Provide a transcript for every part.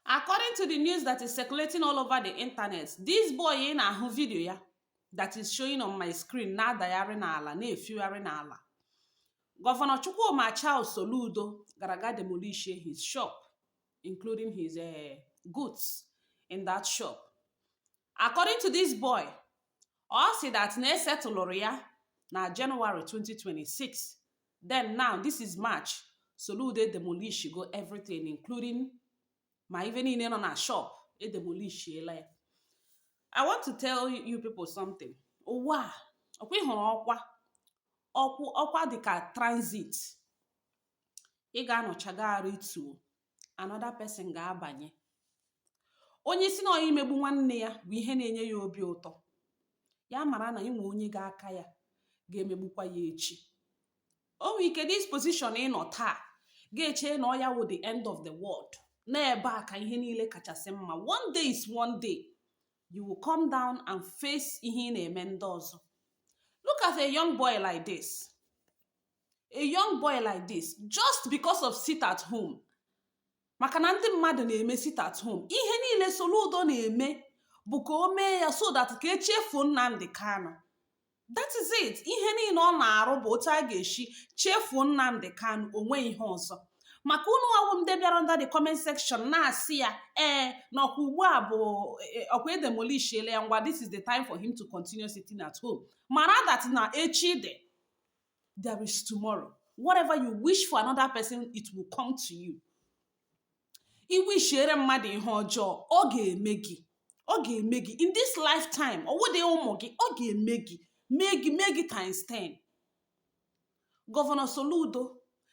according to the news that is circulating all over the internet this boy ị na-ahụ vidio ya that is showing on my screen na-adagharị n'ala na-efigharị n'ala gọvanọ chukwuma charles soludo gara ga demolish his shop including his uh, goods in that shop According to this boy, ọ sị that na esetụlụrụ ya na January 2026 then now this is March Soludo edemolishigo everything including ma ife niile nọ na shop edemolishiela ya I want to tell you people something ụwa ọ kwa ị hụrụ ọkwa ọkwa dịka transit ị ga-anọcha ga arịtuo another person ga-abanye onye sị na ọ ya imegbu nwanne ya wụ ihe na-enye ya obi ụtọ ya mara na inwe onye ga-aka ya ga-emegbukwa ya echi o nwere ike this position ị nọ taa ga-eche na ọ ya wụ the end of the world na ebe a ka ihe niile kachasị mma one day is one day you will come down and face ihe ị na-eme ndị ọzọ look at a young boy like this a young boy like this just because of sit at home maka na ndị mmadụ na-eme sit at home ihe niile Soludo na-eme bụ ka o mee ya so that ka e chefuo Nnamdi Kanu that is it ihe niile ọ na-arụ bụ otu a ga-eshi chefuo Nnamdi Kanu o nweghị ihe ọzọ maka unu nwa wụ ndị bịara under the comment section na-asị ya ee na ọ kwa ugbu a bụ e, e, ọ kwa edemolishiele ya ngwa this is the time for him to continue sitting at home mara that na echi dị there is tomorrow whatever you wish for another person it will come to you i wishiere mmadụ ihe ọjọọ ọ ga-eme gị ọ ga-eme gị in this lifetime ọ wụdị ụmụ gị ọ ga-eme gị mee gị mee gị times 10 gọvanọ soludo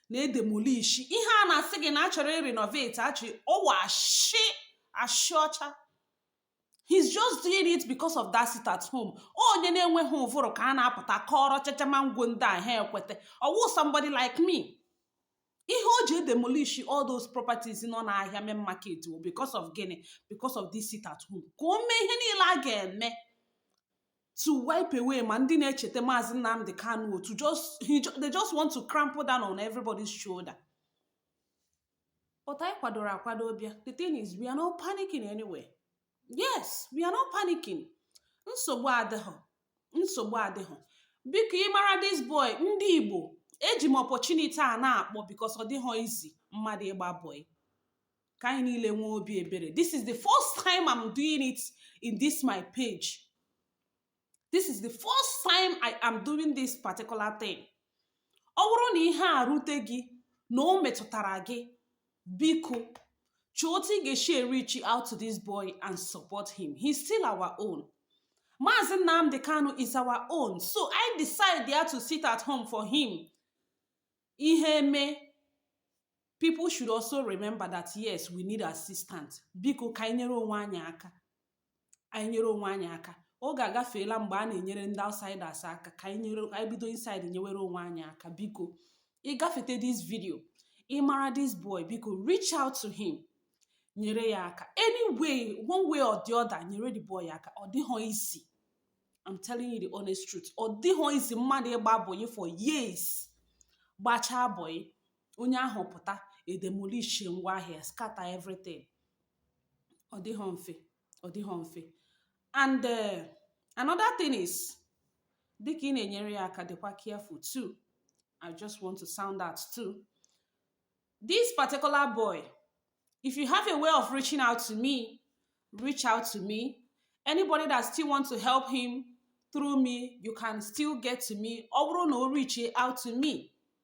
na-edemolishi ihe a na-asị gị na a chọrọ ịrenovate a chọ ọ wụ ashị ashị ọcha he's just doing it because of that sit at home onye na-enweghị ụvụrụ ka a na-apụta kọọrọ chachama ngwo ndị a ha ekwete ọ wụghị somebody like me ihe o ji demolish all those properties nọ n'ahịa main market wụ because of gịnị because of this sit at home ka o mee ihe niile a ga-eme to wipe away ma ndị na-echete maazị Nnamdi Kanu to just they just want to crample down on everybody's shoulder But anyị kwadoro akwado bịa. The thing is, we are not panicking anyway. Yes, we are not panicking. Nsogbu adịghọ. Nsogbu adịghọ. Biko ị mara this boy, ndị Igbo, eji m opportunity a na-akpọ because ọ dịghọ easy mmadụ ịgba boy. ka anyị niile nwee obi ebere this is the first time i'm doing it in this my page this is the first time i am doing this particular thing ọ bụrụ na ihe a rute gị na o metụtara gị biko chọọ otu ị ga-esi reach out to this boy and support him he's still our own Maazị Nnamdi Kanu is our own so I decide there to sit at home for him ihe mee people should also remember that yes we need assistance biko ka anyị nyere onwe anyị aka anyị nyere onwe anyị aka oge agafeela mgbe a na-enyere ndị outsiders aka ka anyị bido inside nyewere onwe anyị aka biko ị gafete this video ị mara this boy biko reach out to him nyere ya aka anyway one way or the other nyere the boy aka ọ dịghọ easy I'm telling you the honest truth ọ dịghọ easy mmadụ ịgba boy for years gbachaa boy onye ahụ pụta e demolish ngwa ahịa scatter everything ọ dịghọ mfe ọ dịghọ mfe and uh, another thing is dịka ị na-enyere ya aka dịkwa careful too i just want to sound out too this particular boy if you have a way of reaching out to me reach out to me anybody that still want to help him through me you can still get to me ọ bụrụ na o reach out to me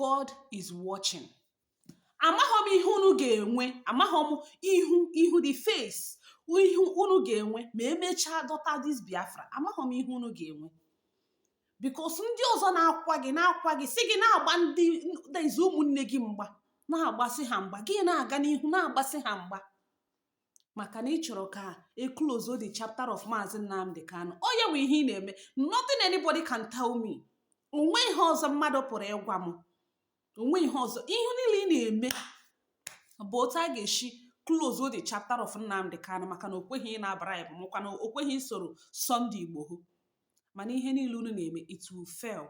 God is watching. amaghị m ihe unu ga-enwe amaghị m ihu ihu the face ihu unu ga-enwe ma emechaa dọta this Biafra amaghị m ihe unu ga-enwe because ndị ọzọ na-akwa gị na-akwa gị sị gị na-agba ndị ezi ụmụnne gị mgba na-agbasi ha mgba gị na-aga n'ihu na-agbasi ha mgba maka na ị chọrọ ka e close the chapter of Maazị Nnamdi Kanu ọ ya bụ ihe ị na-eme nothing anybody can tell me onweghị ihe ọzọ mmadụ pụrụ ịgwa m onweghị ihe ọzọ ihe niile ị na-eme bụ otu a ga-esi close the chapter of Nnamdi Kanu maka na o kweghị ịna bribe makwa na o kweghị isoro Sunday Igboho mana ihe niile unu na-eme it will fail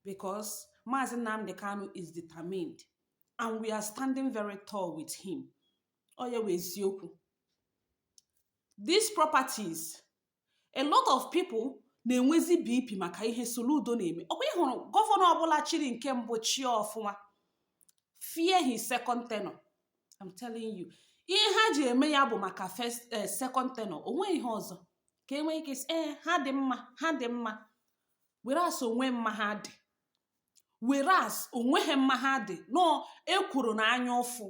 because Maazị Nnamdi Kanu is determined and we are standing very tall with him ọ ya wụ eziokwu these properties a lot of people na-enwezi BP maka ihe Soludo na-eme ọkwa ị hụrụ gọvanọ ọbụla chiri nke mbụ chie ọfụma fear his second tenure I'm telling you ihe ha ji eme ya bụ maka first eh, second tenure onweghị ihe ọzọ ka e nwee ike sị ha dị mma ha dị mma whereas onweghị mma ha dị whereas onweghị mma ha dị no ekwuru na anya ụfụ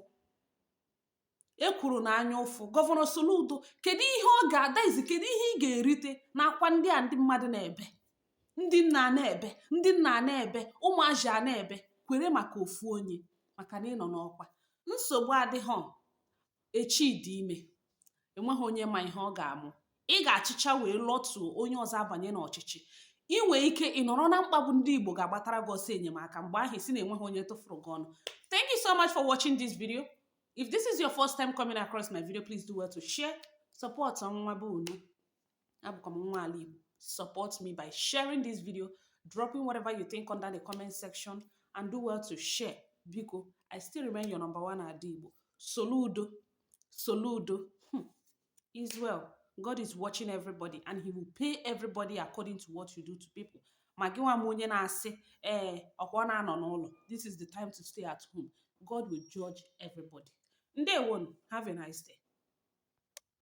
ekwuru na anya ụfụ gọvanọ Soludo kedu ihe ọ ga-adaizi kedu ihe ị ga-erite n'akwa ndị a ndị mmadụ na-ebe ndị nna na-ebe ndị nna na-ebe ụmụazị a na-ebe kwere maka ofu onye maka na ị nọ n'ọkwa nsogbu adịghị echi dị ime enweghị onye ma ihe ọ ga-amụ ị ga-achịcha wee lọtuo onye ọzọ abanye n'ọchịchị ị nwee ike ị nọrọ na mkpagbu ndị Igbo ga-agbatara gị ọsọ enyemaka mgbe ahụ ị sị na enweghị onye tụfuru gị ọnụ thank you so much for watching this video if this is your first time coming across my video please do well to share support nwa be unu abụkwa m nwa ala Igbo support me by sharing this video dropping whatever you think under the comment section and do well to share biko I still remain your number one ada Igbo soludo soludo hmm. is well God is watching everybody and he will pay everybody according to what you do to people ma gị nwa m onye na-asị ee eh, ọkwa na-anọ n'ụlọ this is the time to stay at home God will judge everybody. Ndewo, have a nice day.